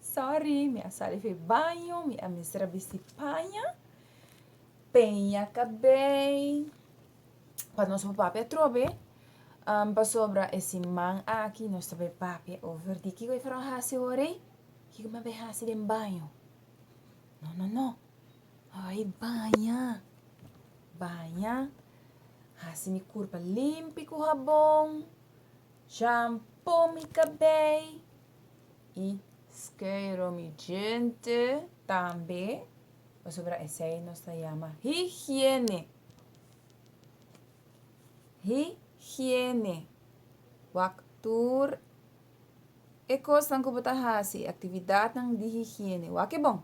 Sorry mi a sali for e baño mi a mester a bisti paña peña cabei pa nos por papia trobe um, pasobra e siman aki nos ta bay papia over di kiko e for a hasi ora ei kiko mi a bay hasi den baño no no no ay baña baña hasi mi curpa limpi cu habon shampoo mi cabei y skero mi gente. Tambe, pasobra esei nos ta llama higiene. Higiene. Wak tur e cosnan cu bo ta haci, e actividadnan di higiene, wak e bon.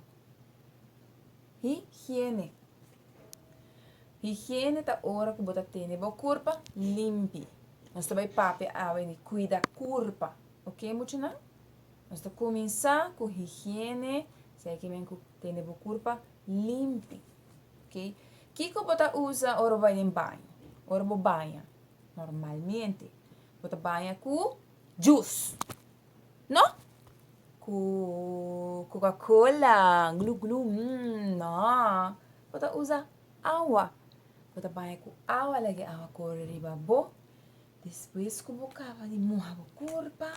Higiene. Higiene ta ora cu bo ta tene bo curpa limpi. Nos ta bay papia awe di cuida curpa. Ok muchanan, nos ta cuminsa cu higiene, sa e ki men cu tene bo curpa limpi, ok. Kico bo ta usa ora bo bai den baño? Ora bo baña, normalmente bo ta baña cu jus, no? Cu coca cola, glu glu, mmm, no. Bo ta usa awa, bo ta baña cu awa, laga e awa cori riba bo. Despues ku bo kaba di moha bo kurpa,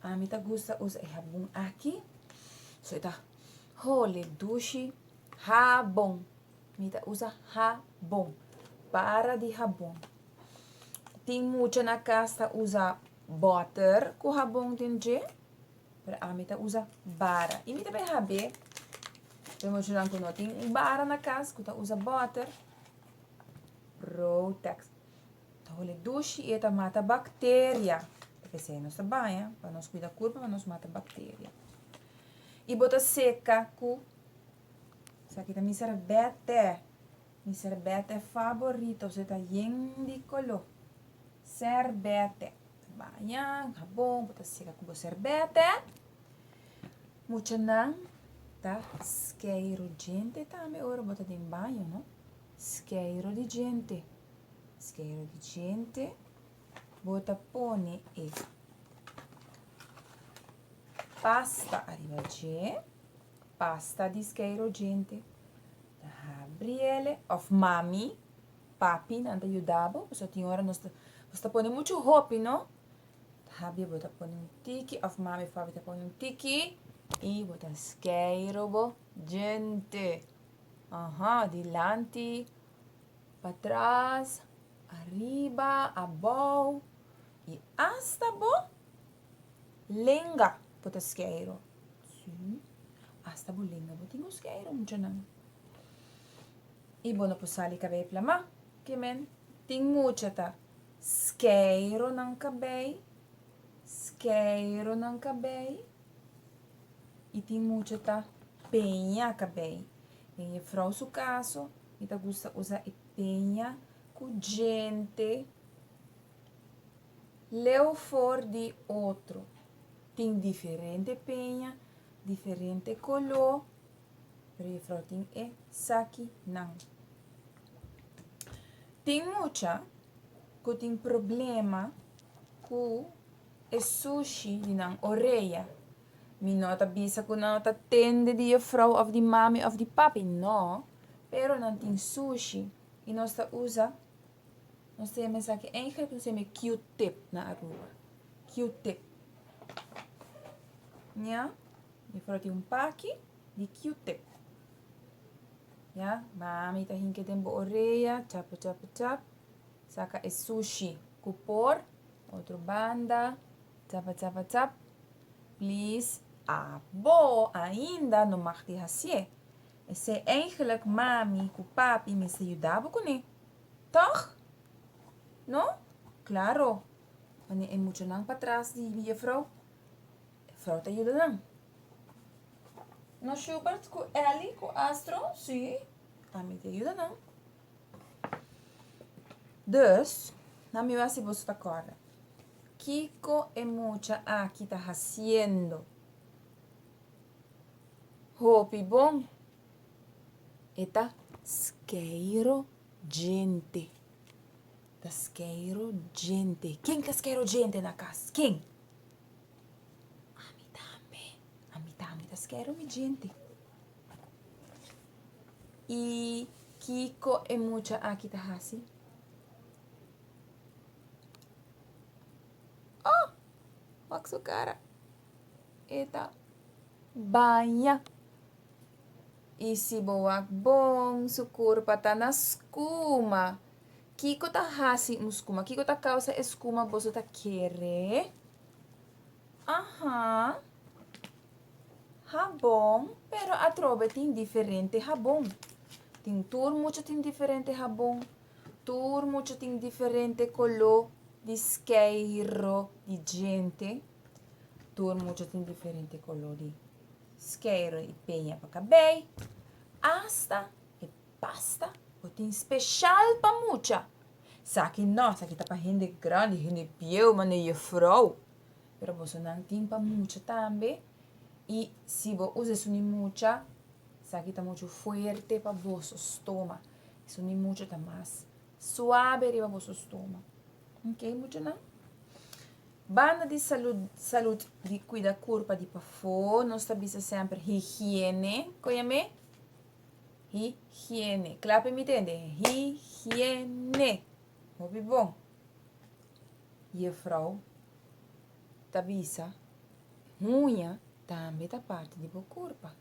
ami ta gusta usa e habon aki, so e ta hole, dushi, habon, mi ta usa habon, para di habon. Tin mucha na kas ta usa bòter ku habon den dje, pero ami ta usa bara. I mi ta bin hab'é, e muchanan ku no tin un bara na kas ku ta usa bòter, Protex. Ta hole dushi y e ta mata bacteria. Pesey nos ta baña pa nos cuida curpa pa nos mata bacteria. Y bo ta seca cu esaki ta mi serbete. Mi serbete favorito. Su e ta yen di color. Serbete. Baña, jabon, bo ta seca cu bo serbete. Muchanan ta skeiro djente tambe ora bo ta den baño, no. Skeiro di djente. Skero di djente, bo ta pone e pasta ariba dje, pasta di skero djente. Ta habri ele, of mami, papi nan ta yuda bo, paso tin ora nos ta, nos ta pone muchu hopi no. Ta habri bo ta pone un tiki, of mami of papi ta pone un tiki, i bo ta skero bo djente. Aha, dilanti. Pa tras, ariba, abou, y hasta bo lenga bo ta skeiro. Sí, hasta bo lenga bo tin ku skeiro muchanan. Y bo no por sali kabei plama, ke men tin mucha ta skeiro nan kabei, skeiro nan kabei, y tin mucha ta peña kabei. Den e frou su kaso, mi ta gusta usa e peña ku djente leu for di otro. Tin diferente peña, diferente koló, pero e frou tin esakinan. Tin mucha ku tin problema ku e sushi di nan orea. Mi no ta bisa ku nan ta tende di e frou òf di mami òf di papi, no. Pero nan tin sushi i nos ta usa, nos tin un esaki en Egipto nos ta yama Q-tip na Aruba. Q-tip. Ya. Mi por a tin un paki di Q-tip. Ya. Mami ta hinke den bo orea, chap, chap, chap, saka e sushi ku por, otro banda, chap, chap, chap. Please abo ainda no mag di hasié esei eigenlik mami ku papi mester yuda bo kuné tog? No? Klaro wanneer e muchanan pa tras di mi juffrouw e frou ta yuda nan. No Shubert ku Elly ku Astro si a mi ta yuda nan. Dus na mi wasi boso ta kòrda. Kiko e mucha aki ta haciendo? Hopi bon e ta skeiro djente. Ta skeiro djente. Ken ta skeiro djente na kas? Ken? Ami tambe. Ami tambe ta skeiro mi djente. Y kiko e mucha aki ta haci? Oh! Wak su cara. E ta baña. Y si bo wak bon, su curpa ta na scuma. Kiko ta haci un scuma? Kiko ta causa e scuma boso ta kere? Aha. Habon, pero atrobe tin diferente habon. Tin tur mucha tin diferente habon. Tur mucha tin diferente koló di skeiro di djente. Tur mucha tin diferente koló di skeiro i peña pa kabei. Asta e pasta bo tin speshal pa mucha. Sa ki no, sa ki ta pa hende grandi, hende bieu, mane yefrou. Pero bosonan tin pa mucha tambe. I si bo usa esun di mucha, sa ki ta muchu fuerte pa boso stoma. Esun di mucho ta mas suabe riba boso stoma. Ok, muchonan? Banda di salud, salud di cuida curpa di pafo, nos ta bisa semper higiene. Coya me? Higiene. Clape mi tende. Higiene. Hopi bon. Juffrouw ta bisa, huña tambe ta parte di bo curpa.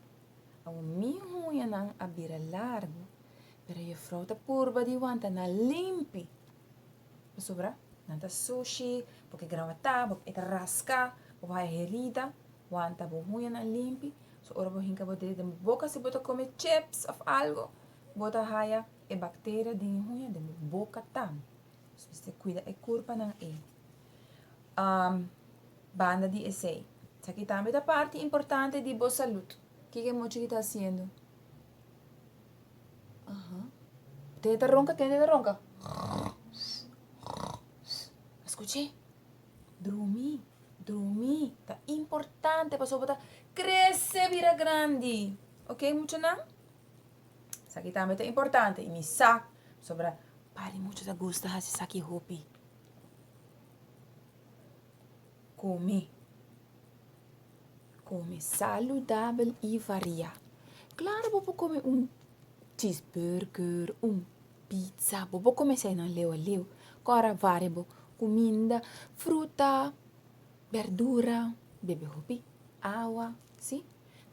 Awor mi hunyanan a bira largu, pero Jefrou ta purba di wanta nan limpi, pasobra nan ta sushi, bo ke grawatá, bo ke eta raská, bo haya herida, wanta bo hunyanan limpi. So ora bo hinka bo dedo den bo boka, si bo ta kome chips òf algu, bo ta haya e bakteria den e huña den bo boka tambe. Pues mester kuida e kurpanan ei. Um, banda di esei, saki tambe ta parti importante di bo salud. Kiko e mochi ki ta haciendo? Aha. Tende ta ronca, tende ta ronca. Escuche. Drumi, drumi. Ta importante pa sobota crece bira grandi. Ok, mucho nan? Saki tambe ta importante. Y mi sa, sobra padi mucho ta gusta haci saki hopi. Come. Come saludabel y variá. Claro bo por come un cheeseburger, un pizza, bo por come esainan leu a leu. Cu ora a varia bo cuminda, fruta, berdura, bebe hopi awa, si.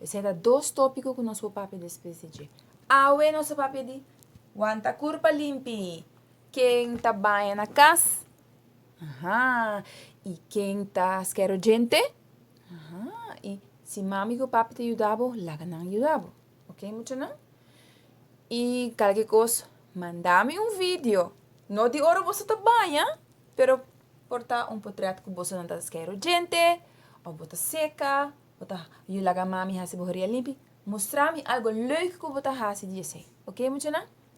Esai ta dos topico cu nos por papia despues di dje. Awe nos a papia di wanta curpa limpi. Ken ta baña na kas? Aha. I ken ta skero djente? Aha. I si mami ku papi ta yuda bo, laga nan yuda bo. Ok, muchanan? I kal ki kos, manda mi un video, no di ora boso ta baña, pero por ta un potret ku boso nan ta skero djente, òf bo ta seka, bo ta yu laga mami hasi bo horia limpi. Mustra mi algo leuk ku bo ta hasi di esei. Ok, muchanan?